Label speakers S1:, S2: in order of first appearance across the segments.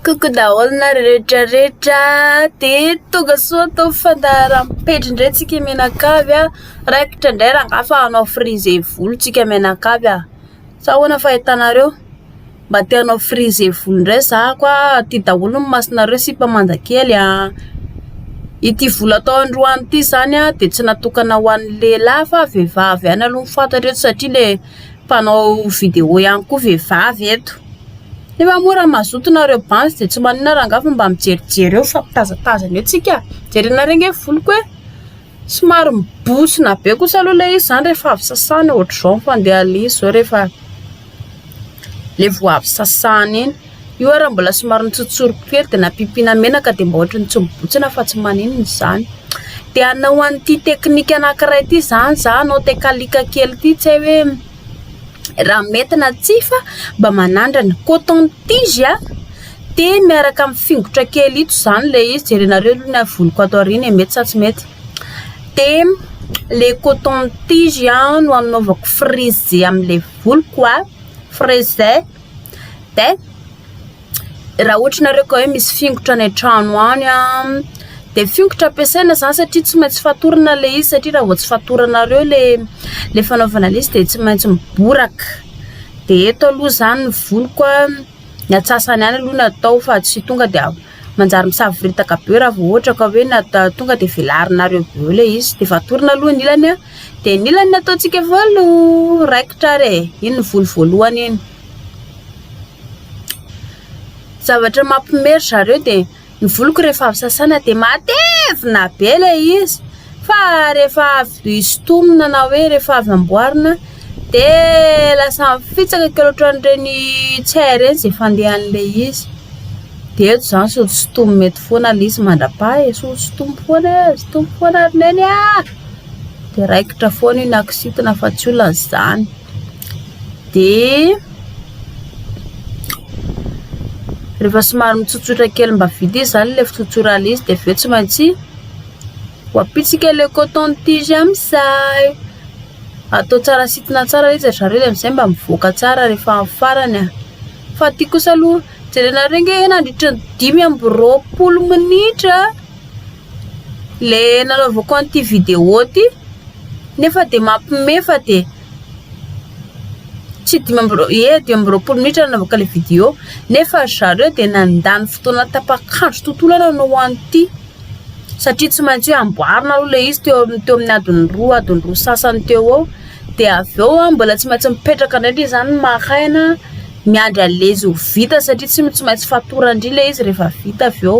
S1: Coucou daholo na rehetra rehetra de tonga soa atao fandaharam-pejy indray tsika mianakavy a raikitra indray rangahy fa hanao frise volo tsika mianakavy a sa ahoana fahitanareo Mba te hanao frisé volo indray za ko a, ty daholo ny masonareo sipa manja kely a, ity volo atao androany ity zany a de tsy natokana ho an'ny lehilahy fa vehivavy ihany aloha ny fantatra eto satria le mpanao vidéo ihany koa vehivavy eto, nefa moa raha mazoto nareo banzy de tsy maninona rangaha fa mba mijerijery eo mifampitazatazana eo tsika, jerenareo nge ny voloko e. Somary mibontsina be kosa aloha ilay izy izany rehefa avy sasana ohatr'izao ny fandehan'izy izao rehefa ilay vao avy sasana iny. Io ary raha mbola somary nitsotsoriko kely dia nampiampiana menaka dia mba ohatran'ny tsy mibontsina fa tsy maninona izany. Dia hanao an'ity teknika anankiray ity izany izaho hanao tekaliaka kely ity tsy hay hoe. raha mety na tsia fa mba manandrana, coton tige a, de miaraka amin'ny fingotra kely ito zany le izy, jerenareo aloha ny havoloko ato aoriana e, mety sa tsy mety, de le coton tige an no anaovako frizzy amle voloko a, frizzy, de. Raha ohatra nareo ka hoe misy fingotra any an-trano any an, de fingotra ampiasaina zany satria tsy maintsy fatorana le izy satria raha vao tsy fatoranareo le le fanaovana le izy de tsy maintsy miboraka, de eto aloha zany ny voniko a, ny antsasany any aloha no atao fa tsy tonga de avy manjary misavoritaka be raha vao ohatra ka hoe nata- tonga de velarinareo avy eo le izy, de efa atorina aloha ny ilany a, de ny ilany no ataontsika valo raikitra ary e, iny ny voly voalohany iny. Zavatra mampime ry zareo dia ny voloko rehefa avy sasana dia matevina be ilay izy fa rehefa avy sintomina na hoe rehefa avy amboarina dia lasa mifitsaka kely ohatran'ireny tsay ireny izay fandehan'ilay izy. Dia eto izany sao tsy sintomina eto foana ilay izy mandra-paha e, sao tsy sintomina foana e, sintomina foana ry neny a! Dia raikitra foana io na kizitina fa tsy olana izany. Dia. Rehefa somary mitsotsotra kely mba vita izy zany le fitsotsorana izy de avy eo tsy maintsy voapitsika le coton tige amin'izay, atao tsara sitina tsara izy ry zareo de amin'izay mba mivoaka tsara rehefa amin'ny farany a, fa ty kosa aloha jerenareo nge nandritra ny dimy amby roapolo minitra le nanaovako an'ity vidéo ty nefa de mampime fa de. tsy dimy amby roa ie dimy amby roapolo minitra nanaovako ilay vidéo nefa ry zareo dia nandany fotoana tapak'andro tontolo aho nanao an'ity satria tsy maintsy hoe amboarina aloha ilay izy teo amin'ny teo amin'ny adiny roa adiny roa sasany teo eo dia avy eo aho mbola tsy maintsy mipetraka indray ndry izany maka aina miandry alezy ho vita satria tsy maintsy fatorany indray ilay izy rehefa vita avy eo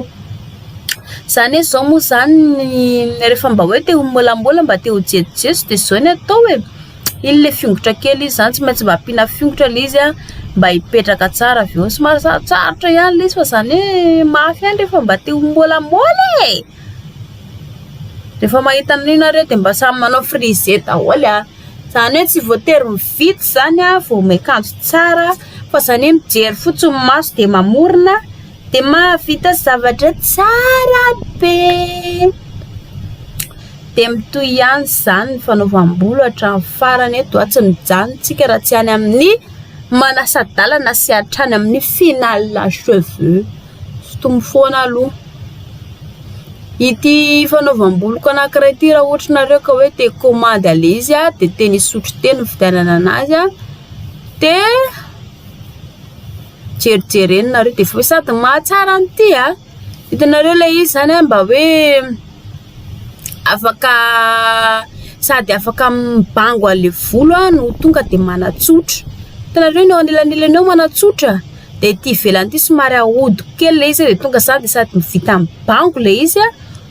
S1: Za anie zao moa zany rehefa mba hoe te ho molamola mba te ho jejojejo de zao ny atao e, iny le fiongotra kely izy zany tsy maintsy mba ampiana fiongotra le izy an, mba hipetraka tsara avy eo, somary sarotsarotra ihany le izy fa zany hoe mafy ihany rehefa mba te ho molamola e! rehefa mahita an'io nareo de mba samy manao frisé daholo an, zany hoe tsy voatery mividy zany an vao miakanjo tsara fa zany hoe mijery fotsiny ny maso de mamorona. Dia mahavita zavatra tsara be. Dia mitohy ihany izany ny fanaovam-bolo hatramin'ny farany eto aho tsy mijanontsika raha tsy any amin'ny manasa-dalana sy hatrany amin'ny final cheveux. Sotomy foana aloha. Ity fanaovam-boloko anankiray ity raha ohatra nareo ka hoe te commande aleha izy a, dia teny Isotry teny ny fividianana anazy a. Dia jerijereny nareo de vao sady mahatsara an'ity a! Hitanareo ilay izy zany a mba hoe afaka sady afaka mibango an'le volo no tonga de manatsotra, hitanareo ny eo anelanelany eo manatsotra de ity ivelany ity somary ahodiko kely le izy de tonga zany de sady vita mibango le izy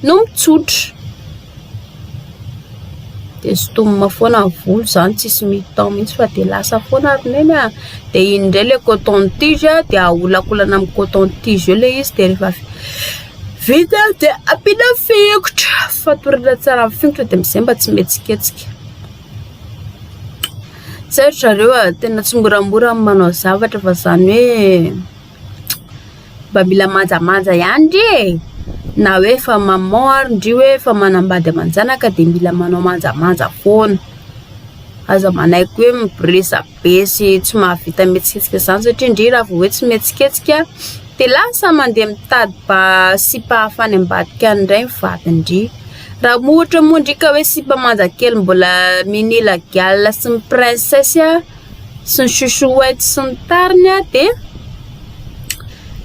S1: no mitsotra. Dia zotomina foana ny volo izany tsisy mi-temps mihitsy fa dia lasa foana ry neny a! Dia iny indray ilay coton tige dia aholankolana amin'ny coton tige eo ilay izy dia rehefa vita dia ampiana fingotra, fatorana tsara amin'ny fingotra dia amin'izay mba tsy mihetsiketsika. Tsy hay ry zareo a! Tena tsy moramora ny manao zavatra fa izany hoe. mba mila manjamanja ihany ndry e! na hoe efa maman ary ndry hoe efa manambady aman-janaka dia mila manao manjamanja foana, aza manaiky hoe miresabe sy tsy mahavita mihetsiketsika izany satria ndry raha vao hoe tsy mihetsiketsika dia lasa mandeha mitady ba- sipa hafa any ambadika any indray ny vadiny ndry, raha moa ohatra moa ndry ka hoe sipa manja kely mbola mini lagiala sy ny princesse a! sy ny chouchouette sy ny tariny dia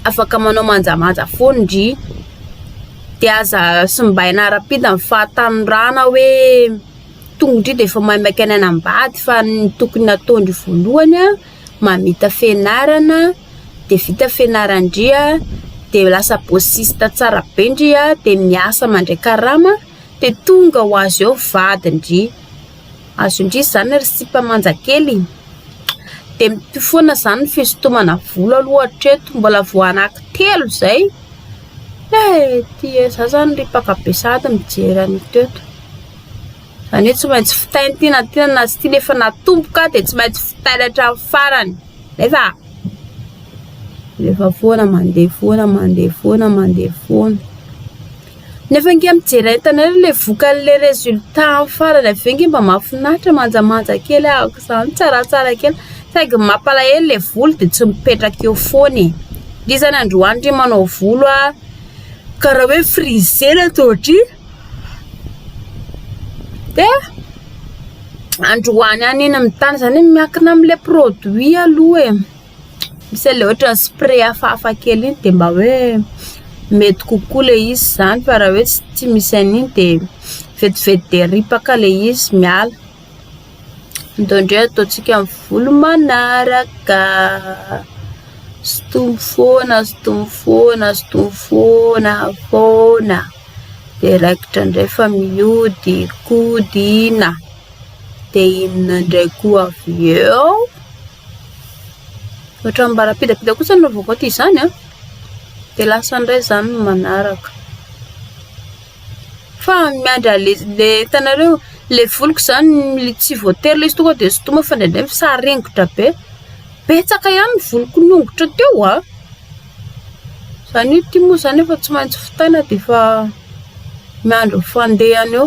S1: afaka manao manjamanja foana ndry dia aza simbaina arapita ny fahatanorana hoe tongotry dia efa maimaika any anambady fa ny tokony nataondry voalohany an mamita fenarana dia vita fenaran-dry an dia lasa bosista tsara be ndry an dia miasa mandray karama dia tonga ho azy eo vadin-dry Azo indrisy zany ry sipa manja kely de mitohy foana zany ny fisintomana volo aloha hatreto mbola vao anaky telo zay eh ty eh za zany ry mpaka be sahady mijery an'i teto zany hoe tsy maintsy fitaina ity na tiana na tsy tiana efa natomboka de tsy maintsy fitaina hatramin'ny farany nefa efa foana mandeha foana mandeha foana mandeha foana Nefa nge mijery entana ery le vokany le resultat am farany avy eo nge mba mafinaritra manjamanja kely ahako izany tsaratsara kely saingy ny mampalahelo le volo de tsy mipetraka eo foana e nge zany androany re manao volo ah kara hoe frisé ny ato aty de androany any iny mitana zany hoe miankina amle produit aloha e. Misy ilay ohatran'ny spray hafahafa kely iny dia mba hoe mety kokoa ilay izy izany fa raha hoe tsy tsy misy an'iny dia vetivety dia ripaka ilay izy miala. Atao indray ataontsika amin'ny volo manaraka. Sintomy foana, sintomy foana, sintomy foana, foana. Dia raikitra indray fa mihodinkodina. Dia inona indray koa avy eo? Ohatran'ny mbarapidapida kosa no vovoaka izany an! Dia lasa indray izany ny manaraka. Fa miandry ale le hitanareo le voloko izany le tsy voatery ilay izy tonga dia sintomina fa indraindray misaringotra be. Betsaka ihany ny voloko niongotra teo an! Izany io ty moa izany efa tsy maintsy fotaina dia efa miandry ny fandehany eo.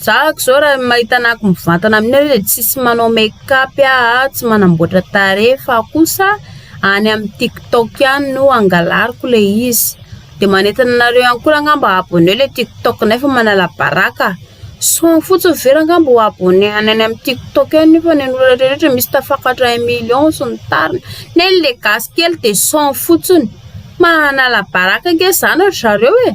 S1: Zahako zao raha mahita anah ko mivantana amin nareo de tsisy manao make up aho tsy manamboatra tarehy fa kosa any amin tik tok ihany no angalariko le izy de manentana anareo ihany ko ngah mba abonné le tik tok nay fa manala baraka soany fotsiny ve ra ngah mba ho abonné any amin tik tok any nefa ny an'olona rehetra misy tafakatra un million sy ny tariny neny le gasy kely de soany fotsiny manala baraka ngah zany ry zareo e.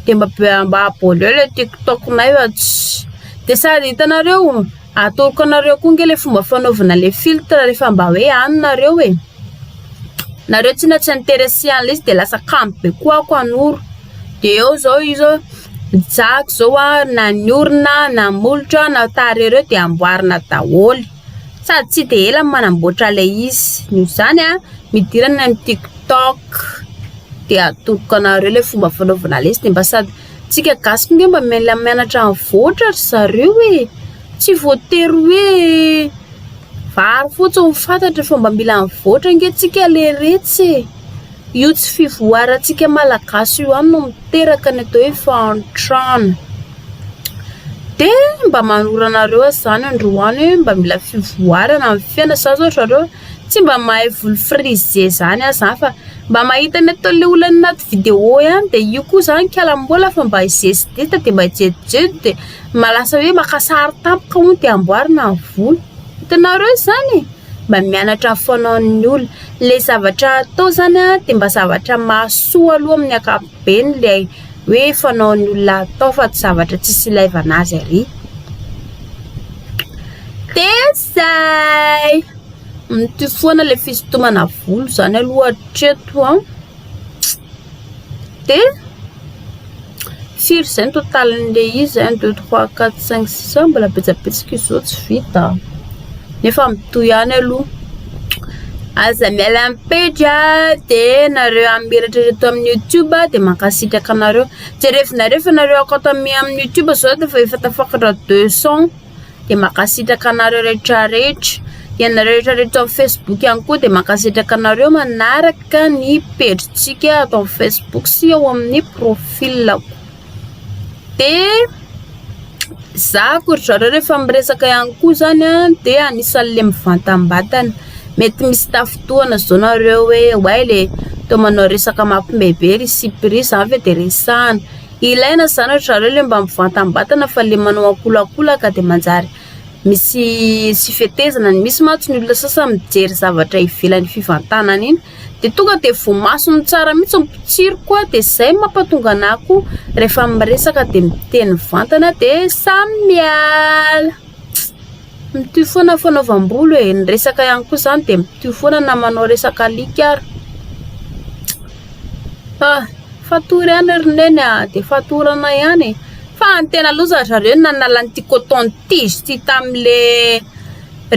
S1: de mba mba aboaleo le tiktok nay fa tsy de sady hitanareo atoroko anareo koa nge le fomba fanaovana le filtre rehefa mba hoe any nareo e nareo tsy na tsy interesse an'le izy de lasa kamo be koa ako hanoro de eo zao io zao mijako zao a na ny orona na molotra na tarehy reo de amboarina daholo Sady tsy dia ela no manamboatra ilay izy. Noho izany a, midira any amin'ny tiktok dia atoloko anareo ilay fomba fanaovana lesy dia mba sady tsika gasy koa nge mba mila mianatra mivoatra ry zareo e! Tsy voatery hoe vary fotsiny no fantatra fa mba mila mivoatra nge tsika leiretsy e! Io tsy fivoarantsika malagasy io ihany no miteraka ny atao hoe fahantrana. De mba manoro anareo aza zany androany hoe mba mila fivoarana amin'ny fiaina za zao ry zareo tsy mba mahay voly frisé zany aho zany fa mba mahita ny ataon'le olona any anaty vidéo ihany de io koa zany kalamola fa mba i zezideta de mba jejojejo de mba lasa hoe maka sary tampoka hono de amboarina ny voly, hitanareo zany e. mba mianatra foana'ny olona. Ilay zavatra atao izany dia mba zavatra mahasoa aloha amin'ny ankapobeny ilay hoe fanaon'ny olona atao fa tsy zavatra tsisy ilaivana azy arỳ. Dia izay! Mitohy foana ilay fisintomana volo izany aloha hatreto an! Dia Firy izay ny totalin'le izy un deux trois quatre cinq six a mbola betsabetsaka izy zao tsy vita a! nefa mitohy ihany aloha, aza miala amin'ny pejy a, de nareo amin'ny menatra eto amin'ny youtube a de mankasitraka anareo, jerevinareo fa nareo akao tamin' amin'ny youtube zao de efa tafakatra deux cent. dia mankasitraka anareo rehetra rehetra. Ianareo rehetra rehetra ao amin'ny Facebook ihany koa dia mankasitraka anareo manaraka ny pejintsika ato amin'ny Facebook sy ao amin'ny profilako. Dia za koa ry zareo rehefa miresaka ihany koa zany a dia anisan'le mivantambatana. Mety misy tafintohana zao nareo hoe oay le toa manao resaka mampime be ry sipa ry, zany ve de resahana. Ilaina izany ry zareo le mba mivantambatana fa le manao ankolaakolaka de manjary misy tsy fetezana ny misy mantsy ny olona sasany mijery zavatra ivelan'ny fivantanana iny de tonga de voamasony tsara mihitsy ny mpotsiro koa de zay mampatonga anà koa rehefa miresaka de miteny mivantana de samy miala. Mitohy foana ny fanaovam-bolo e, ny resaka ihany koa izany dia mitohy foana na manao resaka alika ary. Ah, fatorana ihany ry neny ah, dia fatorana ihany e. Fa ny tena aloha za ry zareo nanala an'ity coton tige ity tamin'le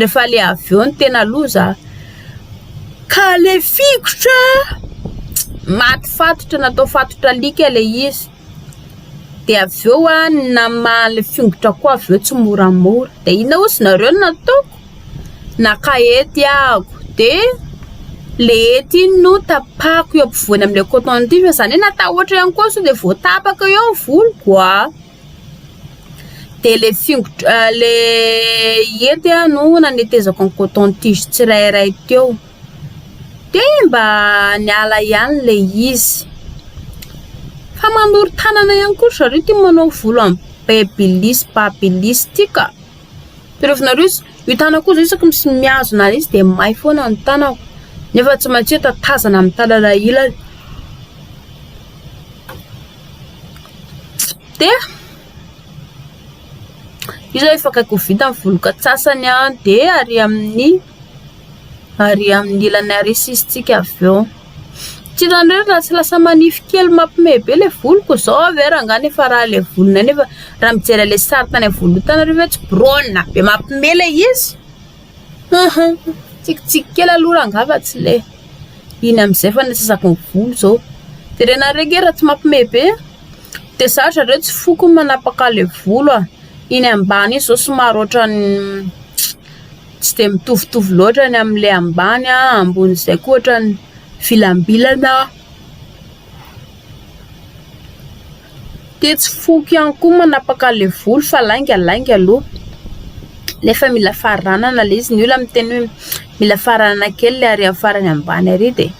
S1: rehefa le avy eo ny tena aloha za. Ka le fingotra maty fatotra natao fatotra alika le izy. dia avy eo aho namaha ilay fingotrako koa avy eo tsimoramora, dia inona hoy izy nareo no nataoko? Naka hety aho dia ilay hety iny no tapahako eo ampovoany amin'ilay coton tige fa zany hoe natahotra ihany koa aho sao dia voatapaka eo ny voloko ah, dia ilay fingotro ilay hety aho no nanetezako ny coton tige tsirairay teo. dia mba niala ihany ilay izy. Fa manoro-tanana ihany koa ry zareo ity manao volo amin'ny babyliss, babyliss ity ka. Tadiavinareo izy, io tanako io izao isaky ny mihazona azy dia may foana ny tanako, nefa tsy maintsy hoe tatazana amin'ny tanana ilany. Dia, io izao efa akaiky ho vita ny voloko antsasany an, dia ary amin'ny ary amin'ny ilany haresisintsika avy eo. Tsy hitanareo raha tsy lasa manify kely mampime be le voloko zao avy eo rangah nefa raha le volonay nefa raha mijery an'le sary tany am-voalohany tany arivony hoe tsy biraonina be mampime le izy haha mitsikitsiky kely aloha rangah fa tsy le iny amizay fa nisasako ny volo zao de renareo nge raha tsy mampime be de za ry zareo tsy foko ny manapaka le volo a, iny ambany iny zao somary ohatran'ny. tsy dia mitovitovy loatra ny amin'ilay ambany an, ambonin'izay koa ohatran'ny vilambilana, dia tsy foko ihany koa manapaka le volo fa lainga lainga aloha, nefa mila faranana le izy, ny olona miteny hoe mila faranana kely le ary amin'ny farany ambany ary dia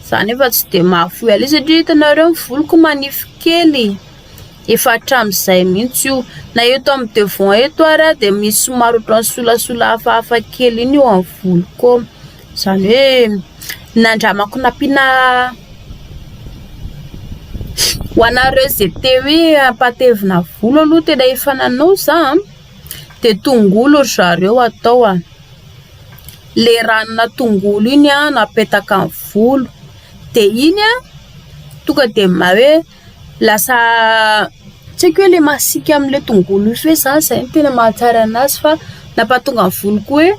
S1: za nefa tsy dia mahafoy an'io satria hitanareo ny voloko manify kely. Efa hatramin'izay mihitsy io. Na eto amin'ny devant eto ary aho dia misy somary ohatran'ny solasola hafahafa kely iny eo amin'ny voloko eo. Izany hoe nandramako nampiana ho anareo izay te hoe hampatevina volo aloha tena efa nanao za dia tongolo ry zareo atao a. Ilay ranona tongolo iny no apetaka amin'ny volo dia iny tonga dia maha hoe... Lasa tsy haiko hoe le masiaka amle tongolo io sy hoe za zay no tena mahatsara anazy fa nampahatonga ny volo ko hoe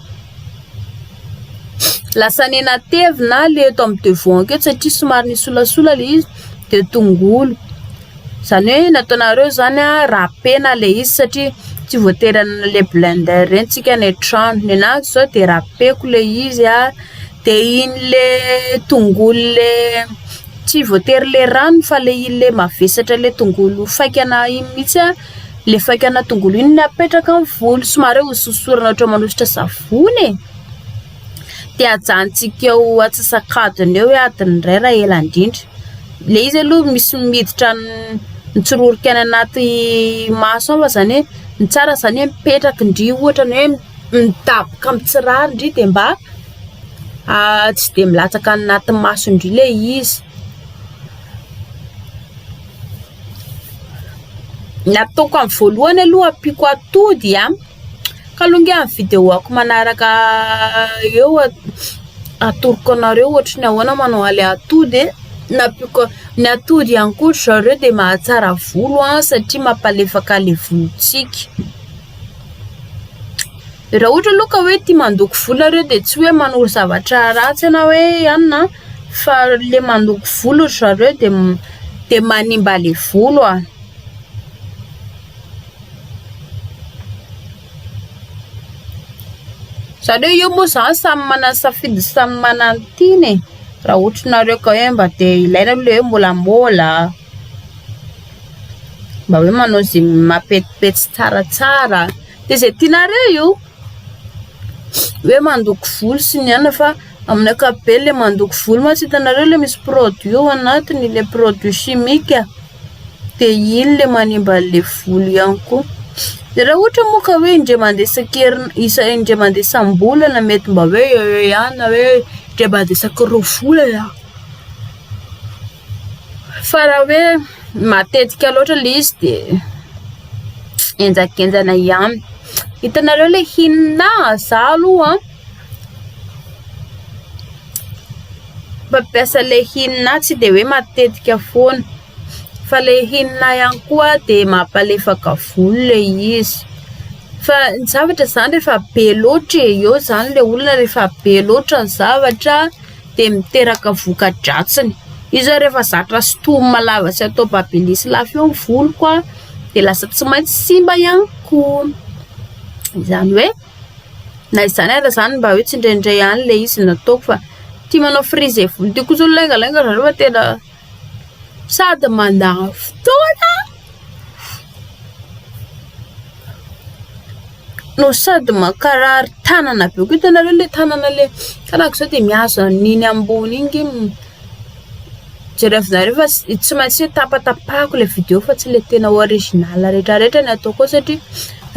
S1: lasa nenatevina le eto amin'ny devoanko eto satria somary nisolasola le izy de tongolo zany hoe nataonareo zany a rapena le izy satria tsy voatery anle blender reny tsika any an-trano, ny anazy zao de rapeko le izy a. De iny le tongolo le tsy voatery le rano fa le iny le mavesatra le tongolo faikana iny mihitsy a, le faikana tongolo iny no apetraka amin'ny volo somary hoe hososorana ohatra manosotra savony e, de ajanontsika eo antsasak'adiny eo hoe adiny iray raha ela indrindra, le izy aloha misy miditra ny mitsororoka any anaty maso ao aza ny hoe ny tsara zany hoe mipetraka ndry ohatra ny hoe. midaboka mitsirary ndry de mba tsy de milatsaka anaty maso indry le izy ny ataoko amin'ny voalohany aloha ampiako atody a ka aloha nge amin'ny videoko manaraka eo atoroko anareo ohatry ny ahoana manao any atody e na ampiako ny atody ihany koa ry zareo de mahatsara volo an satria mampalefaka le volontsika Raha ohatra aloha ka hoe tia mandoko volo nareo dia tsy hoe manoro zavatra ratsy ianao hoe anona an, fa le mandoko volo ry zareo dia dia manimba le volo a. Zareo io moa zany samy manana safidy sy samy manana ny tiany e, raha ohatry nareo ka hoe mba te ilaina aloha le hoe môlamôla a. Mba hoe manao ze mapetipetsy tsaratsara de ze tianareo io hoe mandoko volo sy ny anona fa amin'ny ankapobeny le mandoko volo mantsy hitanareo le misy produit ao anatiny le produit chimique de iny le manimba anle volo ihany koa de raha ohatra moa ka hoe indray mande isan-kerina isa- indray mande isam-bolana mety mba hoe eo eo ihany na hoe indray mande isaky roa volana. Fa raha hoe matetika loatra ilay izy dia henjakenjana ihany. Hitanareo ilay inona? Za aloha mpampiasa ilay inona tsy dia hoe matetika foana, fa ilay inona ihany koa dia mampalefaka volo ilay izy. Fa ny zavatra izany rehefa be loatra e, eo izany ilay olona rehefa be loatra ny zavatra. dia miteraka voka-dratsiny. Io izao rehefa zatra sintomina lava sy atao babin'isa lava eo ny voloko dia lasa tsy maintsy simba ihany koa. Izany hoe na izany aza izany mba hoe tsy indraindray ihany ilay izy no ataoko fa tia manao frizzy volo tia kosa ny laingalainga zareo fa tena... Sady mandany fotoana no sady mankarary tanana be koa, hitanareo le tanana le karaha akoizao de mihazo an'iny ambony iny nge mi- jerevinareo fa tsy maintsy hoe tapatapahiko le video fa tsy le tena original retraretra ny ataoko ao satria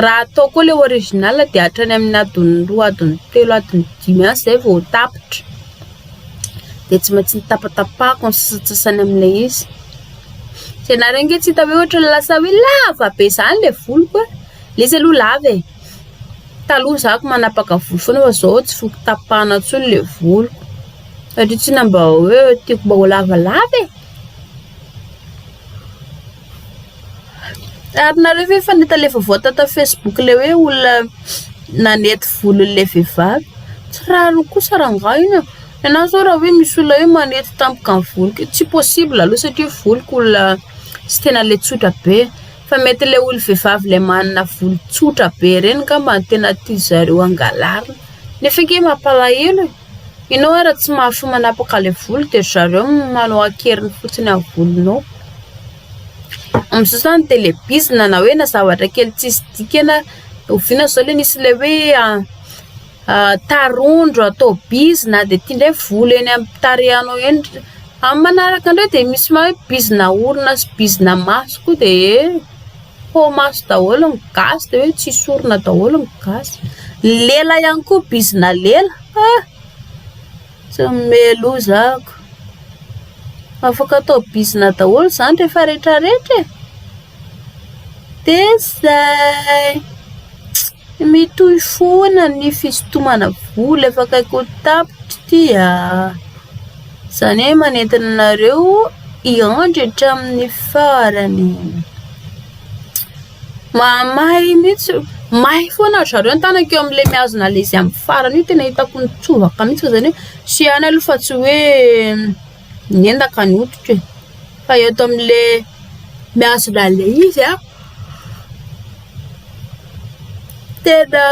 S1: raha atao koa le original de hatrany amin'ny adiny roa adiny telo adiny dimy any zay vao tapitra. dia tsy maintsy nitapatapahako ny sasantsasany amin'ilay izy, tsy hainareo ange tsy hita hoe ohatran'ny lasa hoe lava be izany ilay voloko an! ilay izy aloha lava e! taloha za ko manapaka volo foana fa zao tsy foko tapahana intsony ilay voloko satria tsinona mba hoe tiako mba ho lavalava e! Ary nareo ve efa nahita le vaovao tato facebook le hoe olona nanety volon'ilay vehivavy? Tsy rariny kosa rangahy iny an! Ianao zao raha hoe misy olona hoe manety tampoka ny voloko io, tsy possible aloha satria voloko olona tsy tena le tsotra be, fa mety le olo- vehivavy le manana volo tsotra be reny ngamba no tena tian'zareo hangalarina, nefa ange mampalahelo e! Ianao ara tsy mahafoy manapaka ilay volo dia ry zareo manao an-keriny fotsiny amin'ny volonao. Amin'izao izany ny telebiozina na hoe na zavatra kely tsisy dikany. Oviana izao ilay nisy ilay hoe tarondro atao bizina dia tiandreo ny volo eny amin'ny tarehinao eny. Amin'ny manaraka indray dia misy hoe bizina orona sy bizina maso koa dia eh! Ho maso daholo ny gasy dia hoe tsy sorona daholo ny gasy. Ny lela ihany koa bizina lela. Ah! Tsy mimeloza ako. Afaka atao bizina daholo izany rehefa rehetra rehetra e. Dia izay. Mitohy foana ny fisintomana vola efa akaiky ho tapitra ity a! Izany hoe manentana anareo hiandry hatramin'ny farany e! Mahamay mihitsy, may foana ry zareo ny tanako eo amin'ilay mihazona an'ilay izy amin'ny farany io, tena hitako nitsovaka mihitsy fa izany hoe saihany aloha fa tsy hoe. Niendaka ny hoditro e! Fa eto amin'ilay mihazona an'ilay izy an, tena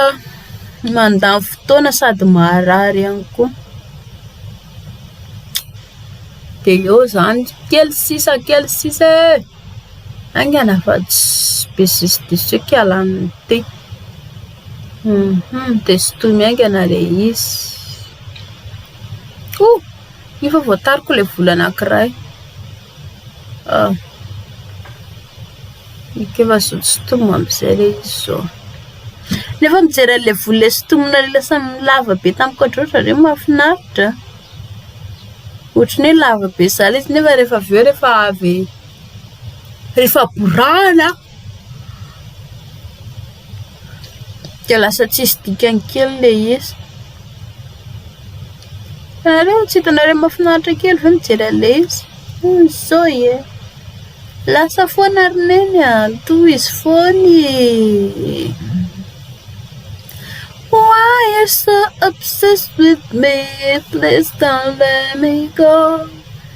S1: mandany fotoana sady maharary ihany koa. Dia eo izany, kely sisa kely sisa e! Haingana fa tsy be zisizisika hialany ny tehy. Dia sintominy haingana ilay izy. Ohh. Efa voatariko ilay vola anankiray. Ah, eka efa azo sintomina amin'izay ilay izy izao. Nefa mijery an'ilay vola ilay sintomina ilay lasa lava be tamiko hatry ny otrany ve mahafinaritra? Ohatry ny hoe lava be zah ilay izy nefa rehefa avy eo rehefa avy rehefa borahana. Dia lasa tsisy dikany kely ilay izy. Ianareo tsy hitanareo mahafinaritra kely ve mijery an'ilay izy? Zao e! Lasa foana ry neny a! Tohizo foana e! Why you so obsessed with me, please don't let me go.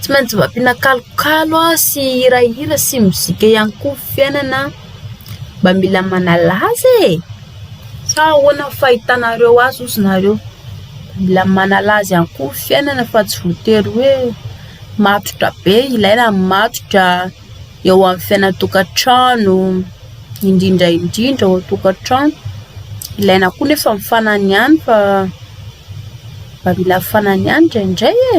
S1: Tsy maintsy mba ampiana kalokalo sy hirahira sy mozika ihany koa ny fiainana mba mila manala azy e, sa ahoana ny fahitanareo azy ozy nareo? Mila manala azy ihany koa ny fiainana fa tsy voatery hoe matotra be, ilaina ny matotra. eo amin'ny fiainan-tokantrano, indrindra indrindra ao an-tokantrano. Ilaina koa anefa ny fanany ihany fa mba mila fanany ihany indraindray e!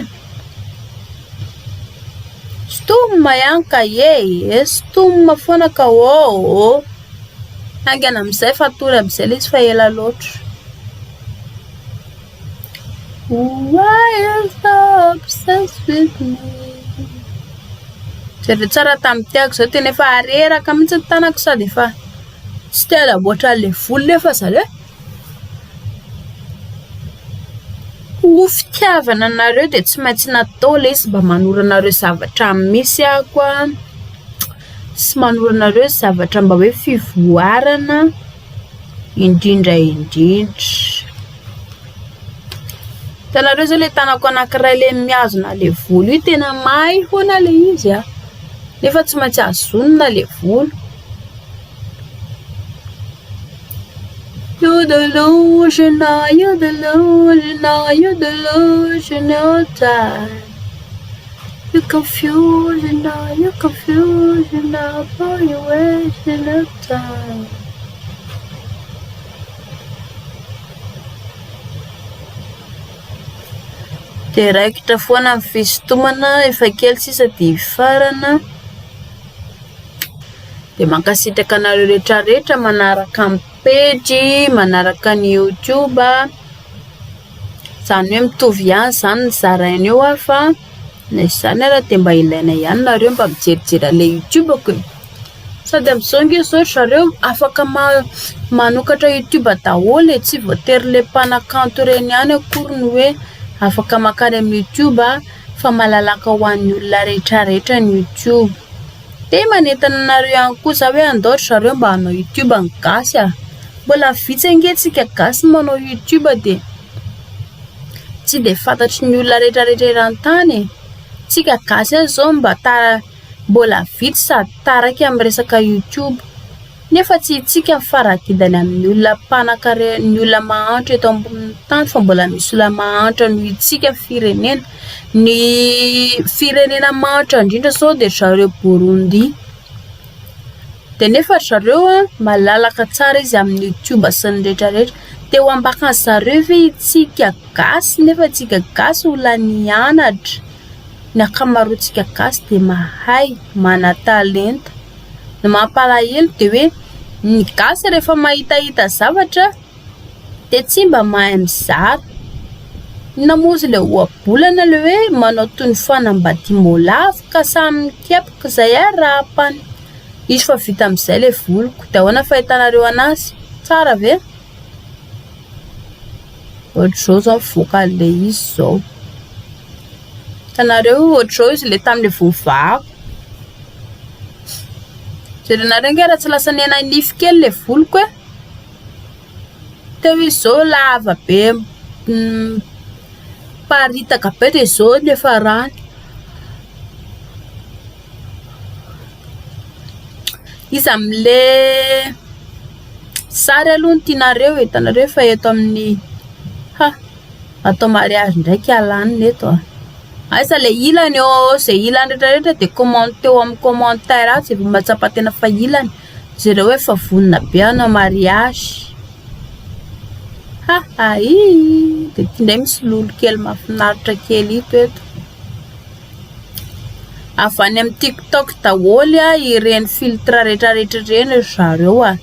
S1: Sintomina ihany ka e! Sintomina foana ka ôhô! Haingana amin'izay fa hatory amin'izay ilay izy fa ela loatra. Why you stop obsessed with me Zay ve tsara tamin'ny tiako zao tena efa areraka mihitsy ny tanako sa de efa tsy te hanamboatra an'le volo nefa zareo ho fitiavana anareo de tsy maintsy natao le izy mba manoro anareo zavatra misy ako a sy manoro anareo zavatra mba hoe fivoarana indrindra indrindra. Hitanareo zao le tanako anankiray le mihazona le volo io tena may hoana le izy a, ah. nefa tsy maintsy azonina le volo. Yodelozhina, yodelozhina, yodelozhina, oh, Io kafiolina, io kafiolina, Pao io e, Zenata. Dia raikitra foana ny fisintomana, efa kely sisa dia hifarana. Dia mankasitraka anareo rehetrarehetra manaraka ny pejy, manaraka ny YouTube. Izany hoe mitovy ihany izany ny zaraina eo ary fa na izany ary dia mba ilaina ihany nareo mba mijerijery an'ilay youtube ko e! sady amin'izao ange izao ry zareo afaka manokatra youtube daholo e! tsy voatery ilay mpanakanto ireny ihany akory no hoe afaka makany amin'ny youtube fa malalaka ho an'ny olona rehetra rehetra ny youtube. Dia manentana anareo ihany koa za hoe andao ry zareo mba hanao youtube ny gasy ah! Mbola vitsy ange tsika gasy no manao youtube dia tsy dia fantatry ny olona retraretra eran-tany e! Tsika gasy aza zao mba mbola vitsy sady taraiky amin'ny resaka youtube. Nefa tsy isika ny fara-gidany amin'ny olona mpanankarena, ny olona mahantra eto ambonin'ny tany fa mbola misy olona mahantra noho isika firenena. Ny firenena mahantra indrindra izao dia ry zareo Burundi. Dia nefa ry zareo malalaka tsara izy amin'ny YouTube sy ny rehetrarehetra. Te ho ambaka an'i zareo ve isika gasy nefa isika gasy olona nianatra, ny ankamaroantsika gasy dia mahay, manan-talenta. Ny mampalahelo dia hoe ny gasy rehefa mahitahita zavatra dia tsy mba mahay mizara. Inona moa izy ilay ohabolana ilay hoe manao toy ny fanambadiam-boalavo ka samy mikepoka izay ary raha ampany. Hisy fa vita amin'izay ilay voliko. Dia ahoana fahitanareo anazy? Tsara ve? Ohatr'izao izao mivoaka an'ilay izy izao. Hitanareo ohatr'izao izy ilay tamin'ilay voavahako. Jerenareo ange raha tsy lasa nihananify kely ilay voloko e. Teo izy izao lava be miparitaka be dia izao ny hafarany. Iza amin'ilay sary aloha no tianareo e? Hitanareo efa eto amin'ny ha. Atao mariage ndraiky Alana eto a. Aiza le ilany ô, ze ilany retraretra de commente eo amin'ny commentaire ato ze mba mahatsapa tena fa ilany, jereo hoe efa vonona be hanao mariage. Ha ha ii, de ty ndray misy lolo kely mahafinaritra kely ito eto. Avy any amin'ny TikTok daholo ireny filtre retraretra ireny ry zareo a.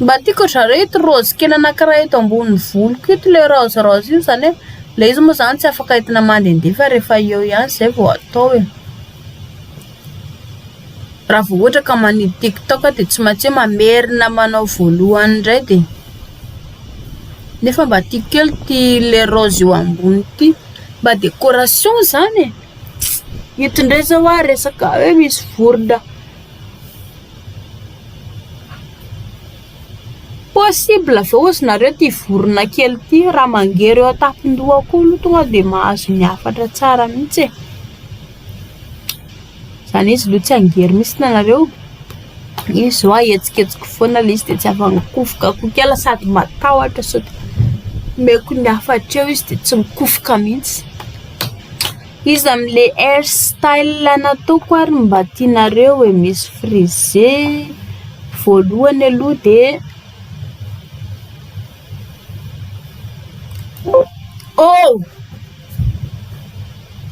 S1: Mba tiako ry zareo ito raozy kely anankiray eto ambonin'ny voloko ito ilay raoziraozy iny izany hoe ilay izy moa izany tsy afaka entina mandehandeha fa rehefa eo ihany izay vao atao e. Raha vao ohatra ka manidy tiktok aho dia tsy maintsy hoe mamerina manao voalohany indray dia nefa mba tiako kely ity ilay raozy eo ambony ity. Mba décoration izany e. Ito indray izao hoa resaka hoe misy vorona. Possible ve ozy nareo ty vorona kely ty raha mangery eo an-tampon-dohako eo aloha tonga dia mahazo ny hafatra tsara mihitsy e, izany hoe izy aloha tsy hangery mihitsy nareo, izy izao ahetsiketsiko foana ilay izy dia tsy afa-mikofokakoka ela sady matahotra sao dia omeko ny hafatra eo izy dia tsy mikofoka mihitsy. Iza amle hair style nataoko ary mba tianareo e? Misy frisé, voalohany aloha de oh!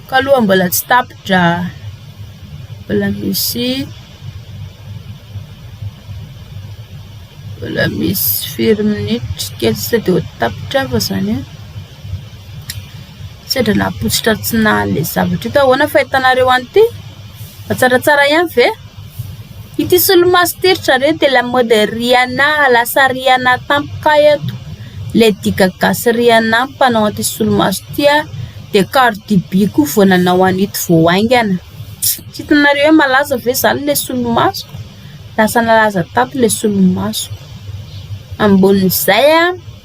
S1: Ka aloha mbola tsy tapitra, mbola misy mbola misy firy minitra kely sisa de ho tapitra fa zany. Sendra napotsitra tsy nahale zavatra ito ahoana fahitanareo an'ity? Matsaratsara ihany ve? Ity solomaso ity ry zareo dia lamaody Rihanna lasa Rihanna tampoka eto. Lady Gaga sy Rihanna no mpanao an'ity solomaso ity ary dia Cardi B koa vao nanao an'ito vao haingana. Tsy hitanareo hoe malaza ve izany ilay solomaso? Lasa nalaza tato ilay solomaso. Ambonin'izay an!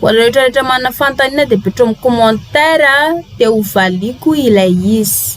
S1: Ho anareo rehetra manana fanontaniana dia apetrao amin'ny commentaire dia ho valiako ilay izy.